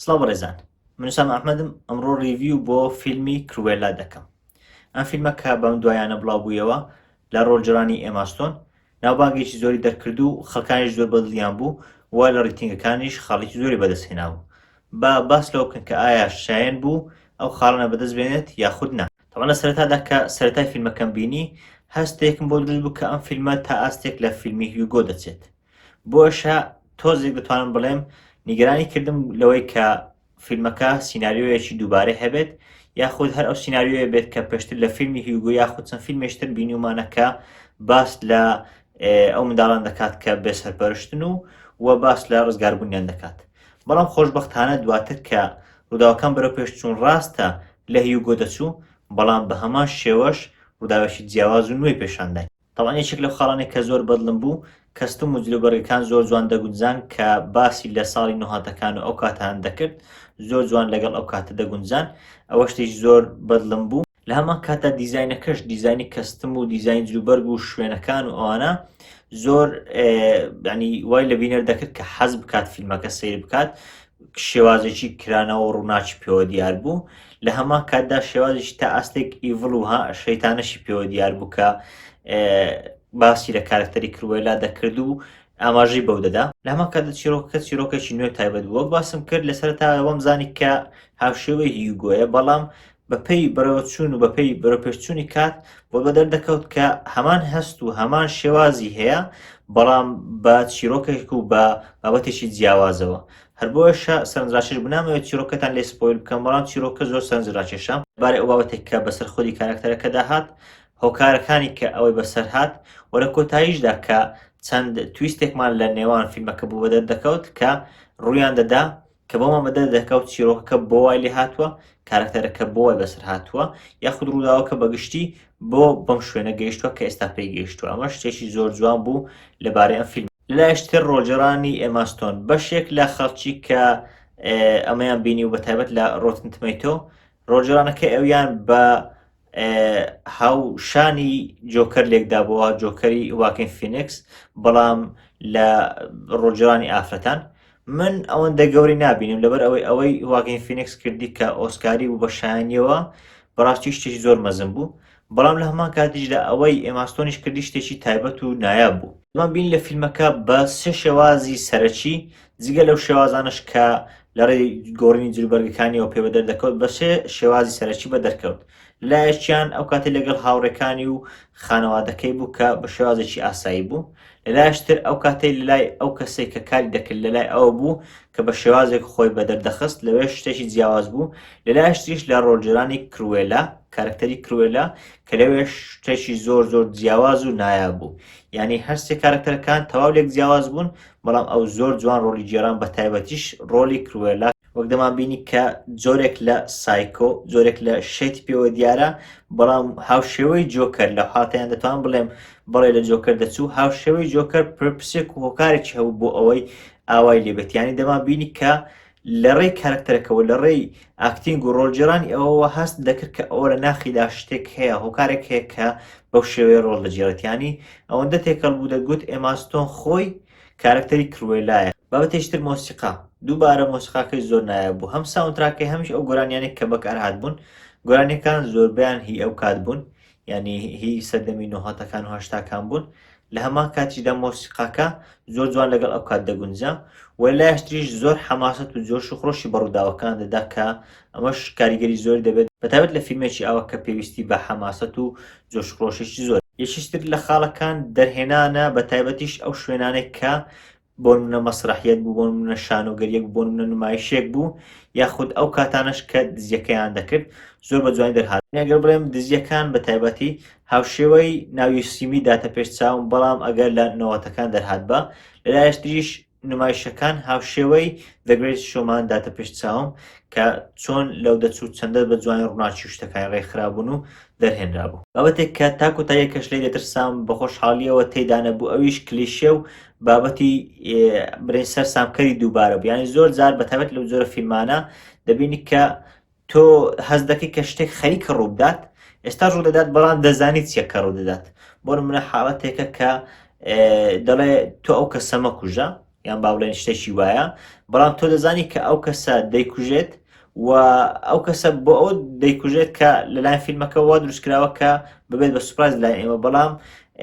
سڵاو ڕێزان منوسام ئەحمەدم ئەمڕۆ ریڤیو بۆ فیلمی کروێلا دەکەم ئەم فیلمە کە بەم دوایانە بڵاوبوویەوە لە ڕۆژجرانی ئێماستۆن ناوبانگێکی زۆری دەرکرد و خەکانیش زۆر بەدڵیان بوو و لە ڕیتنگەکانیش خاڵێکی زۆری بەدەستهێناوە با باس لەوە بکەن کە ئایا شایەن بوو ئەو خاڵانە بەدەست بێنێت یاخود نا تەبعەن لە سەرەتادا کە سەرەتای فیلمەکەم بینی هەستێکم بۆ دروست بوو کە ئەم فیلمە تا ئاستێک لە فیلمی هیوگۆ دەچێت بۆشە تۆزێک دەتوانم بڵێم نیگەرانی کردم لەوەی کە فیلمەکە سینناریۆیەکی دووبارەی هەبێت یاخود هەر ئەو سینناریۆیە بێت کە پێشتر لە فیلمی هیوگو یاخود چەند فیلمێشتر بینیومانەکە باس لە ئەو منداڵان دەکات کە بێ سەرپەرشتن و و باس لە ڕزگاربوونیان دەکات بەڵام خۆشبەختانە دواتر کە ڕووداوەکان بەرەو پێش چوون ڕاستە لە هیوگۆ دەچوو، بەڵام بە هەمان شێوەش ڕووداوێکی جیاواز و نوێی پیشان دای. تەبعەن یەکێک لەو خاڵانەی کە زۆر بەدڵم بوو، کەستوم و جلوبەرگەکان زۆر جوان دەگونجان کە باسی لە ساڵی نۆهاتەکان و ئەو کاتەیان دەکرد، زۆر جوان لەگەڵ ئەو کاتە دەگونجان، ئەوە شتێکی زۆر بەدڵم بوو. لە هەمان کاتدا دیزاینەکەش دیزانی کەستم و دیزاین جلوبەرگ و شوێنەکان و ئەوانە زۆر ینی وای لە بینەر دەکرد کە حەز بکات فیلمەکە سیر بکات شێوازێکی کرانەوە ڕووناچی پێوە دیار بوو لە هەمان کاتدا شێوازێکی تا ئاستێک ئیڤڵ و شەیتانەشی پێوە دیار بوو کە باسی لە کارکتەری کروێلا دەکرد و ئاماژەی بەو دەدا لەمە کە چیرۆکە چیرۆکێکی نوێ تایبەت بووە باسم کرد لەسەر تاوەم زانی کە هاوشێوەی هیوگۆیە بەڵام بە پێی بەڕێوەچوون و بە پێی بەرەوپێشچوونی کات بۆ بە دەردەکەوت کە هەمان هەست و هەمان شێوازی هەیە بەڵام بە چیرۆکێک و بە بابەتێکی جیاوازەوە هەر بۆیشە سەرنجڕاکێش بنامەوە چیرۆکەتان لێ سپۆیل بکەم بەڵام چیرۆکە زۆر سەرنجڕاکێشە بارە ئەو بابەتێک کە بەسەر خودی کارکتەرەکەدا هات هۆکارەکانی کە ئەوەی بەسەر هات و لە کۆتاییشدا کە چەند تویستێکمان لە نێوان فیلمەکە بوو بە دەردەکەوت کە ڕوویان دەدا کە بۆمان بەدەر دەکا و چیرۆکەکە بۆ وای لێ هاتووە کارەکتەرەکە بۆ وای بەسەر هاتووە یاخود ڕووداوەکە بەگشتی بۆ بەم شوێنە گەیشتووە کە ئێستا پێی گەیشتووە ئەمە شتێکی زۆر جوان بوو لەبارەی ئەم فیلم لەلایشتر ڕۆجرانی ئێماستۆن بەشێک لە خەڵکی کە ئەمەیان بینی و بە تایبەت لە ڕۆتنتمەیتۆ ڕۆژرانەکە ئەویان بە هاوشانی جۆکەر لێکدابەوە جۆکەری واکن فینکس بەڵام لە ڕۆژرانی ئافرەتان من ئەوەندە گەوری نبینم لەبەر ئەوەی ئەوەی واکن فینکس کردی کە ئۆسکاری و بەشانیەوە بەڕاستی شتێکی زۆر مەزم بوو بەڵام لە هەمان کاتیش لە ئەوەی ئێماستۆنیش کردی شتێکی تایبەت و نایاب بوو من بین لە فیلمەکە بە سێ شێوازی سەرەکی جگە لەو شێوازانەش کە لەڕێی گۆڕینی جلوبەرگەکانیەوە پێوە دەردەکەوت بە سێ شێوازی سەرەکی بە دەرکەوت لەلایەکیان ئەو کاتی لەگەڵ هاوڕێکانی و خانەوادەکەی بوو کە بە شێوازێکی ئاسایی بوو لەلایشتر ئەو کاتەی لەلای ئەو کەسێک کە کاری دەکرد لەلای ئەوە بوو کە بە شێوازێک خۆی بە دەردەخست لەوێ شتێکی جیاواز بوو لەلایشتریش لە ڕۆژجرانی کروێلا کارکتەری کروێلا کە لەوێ شتێکی زۆر زۆر جیاواز و نایاب بوو یعنی هەرسێ کارکتەرەکان تەواو لێک جیاواز بوون بەڵام ئەو زۆر جوان ڕۆلی جێران بە تایبەتیش ڕۆلی کروێلا وەک دەمان بینی کە جۆرێک لە سایکۆ جۆرێک لە شێتی پێوە دیارە بەڵام هاوشێوەی جۆکەر لە حاتیان دەتوان بڵێم بەڵێ لە جۆکەر دەچوو هاوشێوەی جۆکەر پرپسێک و هۆکارێکی هەبوو بۆ ئەوەی ئاوای لێبێتیانی دەمان بینی کە لە ڕێی کارەکتەرەکەوە لە ڕێی ئاکتینگ و ڕۆڵگێڕانی ئەوەوە هەست دەکرد کە ئەوە لە ناخیدا شتێک هەیە هۆکارێک هەیە کە بەو شێوەیە ڕۆڵ دەگێڕێت یانی ئەوەندە تێکەڵ بوو دەگوت ئێما ستۆن خۆی کارەکتەری کروێلایە. بابەتێکی تر مۆسیقا دووبارە مۆسیقاکەی زۆر نایاب بوو هەم ساوندتراکەی هەمیش ئەو گۆرانیانەی کە بەکارهاتبوون گۆرانیەکان زۆربەیان هی ئەو کات بوون یانی هی سەردەمی نۆهەتەکان و هەشتاکان بوون لە هەمان کاتیشدا مۆسیقاکە زۆر جوان لەگەڵ ئەو کات دەگونجا و لایشتریش زۆر حەماسەت و جۆش و خرۆشی بەڕووداوەکان دەدا کە ئەمەش کاریگەری زۆر دەبێت بەتابەت لە فیلمێکی ئاوە کە پێویستی بە حەماسەت و جۆش خرۆشێکی زۆر یەکیشتر لە خاڵەکان دەرهێنانە بە تایبەتیش ئەو شوێنانێک کە بۆنمونە مەسرەحیەت بوو، بۆنمونە شانۆگەریەک بوو، بۆنمونە نمایشێک بوو، یاخود ئەو کاتانەش کە دزیەکەیان دەکرد زۆر بە جوانی دەرهات. ئەگەر بڵێم دزیەکان بە تایبەتی هاوشێوەی ناوی سیمی داتە پێش چاوم، بەڵام ئەگەر لە نەوەتەکان دەرهاتبا، لە لایەش تریش نمایشەکان هاوشێوەی The Greatest Showman داتە پێش چاوم کە چۆن لەو دەچوو چەندە بە جوانی ڕوناکی و شتەکانی ڕێکخرابوون و دەرهێنرابوو. بابەتێک کە تا کۆتایی کەش لێی دەترسام بە خۆشحاڵیەوە تێیدا نەبوو ئەویش کلیشێ و بابەتی برنج سەر سامکەری دووبارە بوو ینی زۆر جار بەتەبەت لەو جۆرە فیلمانە دەبینی کە تۆ هەز دەکەی کە شتێک خەریکە ڕووبدات ئێستا ڕوو دەدات بەڵام دەزانیت چیە کە ڕوو دەدات بۆ منە حاڵەتێکە کە دەڵێ تۆ ئەو کە سەمە کوژە یان با بڵێن شتێکی وایە بەڵام تۆ دەزانی کە ئەو کەسە دەیکوژێت و ئەو کەسە بۆ ئەو دەیکوژێت کە لەلایەن فیلمەکەەوە دروستکراوە کە ببێت بە سوپاز لای ئێمە بەڵام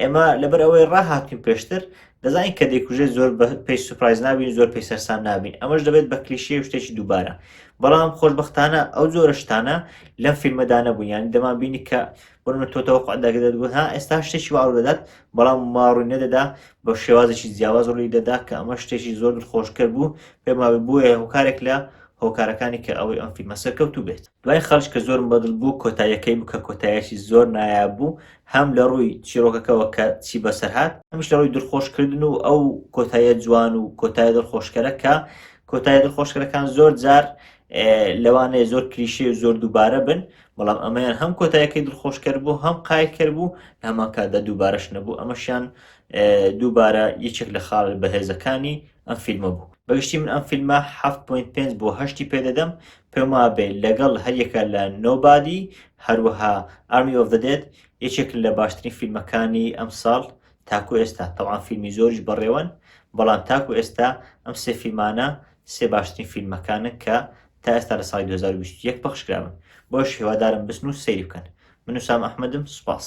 ئێمە لەبەر ئەوەی ڕاهاتین پێشتر دەزانین کە دەیکوژێت زۆر پێی سوپایز نابین زۆر پێی سەرسام نابین ئەمەش دەبێت بە کلیشەیە شتێکی دووبارە بەڵام خۆشببختانە ئەو زۆرە شتانە لەم فیلمەدا نەبوو یانی دەمان بینی کە بۆمە تۆتەوە قعدەگەدەت بوو ها ئێستا شتێکی واڕ دەدات بەڵام ماڕووی نەدەدا بە شێوازێکی جیاواز ڕووی دەدا کە ئەمە شتێکی زۆر خۆشکرد بوو پێما بۆیە هۆکارێک لە هۆکارەکانی کە ئەوەی ئەم فیلمە سەرکەوتو بێت دوای خەرج کە زۆرم بەدڵ بوو کۆتاییەکەی بکە کۆتایەکی زۆر نایاب بوو هەم لە ڕووی چیرۆکەکەوە کە چی بەسەر هات هەمیش لە ڕووی دڵخۆش کردن و ئەو کۆتاییە جوان و کۆتایە دڵخۆشکەرە کە کۆتایە دڵخۆشکەرەکان زۆر جار لەوانەیە زۆر کلیشەی و زۆر دووبارە بن بەڵام ئەمەیان هەم کۆتایەکەی دڵخۆشکەر بوو هەم قایلکەر بوو هەمان کاتدا دووبارەش نەبوو ئەمەشیان دووبارە یەکێک لە خاڵ بەهێزەکانی ئەم فیلمە بوو بەگشتی من ئەم فیلمە 7.5 بۆ هەشتی پێدەدەم پێم وابێ لەگەڵ هەریەکە لە Nobody هەروەها Army of the Dead یەکێکن لە باشترین فیلمەکانی ئەمساڵ تاکو ئێستا تەبعان فیلمی زۆریش بەڕێوەن بەڵام تاکو ئێستا ئەم سێ فیلمانە سێ باشترین فیلمەکانن کە تا ئێستا لە ساڵی 2021 پەخش کراون بۆش هیوادارم بچن و سەیری بکەن من و سام ئەحمەدم سوپاس.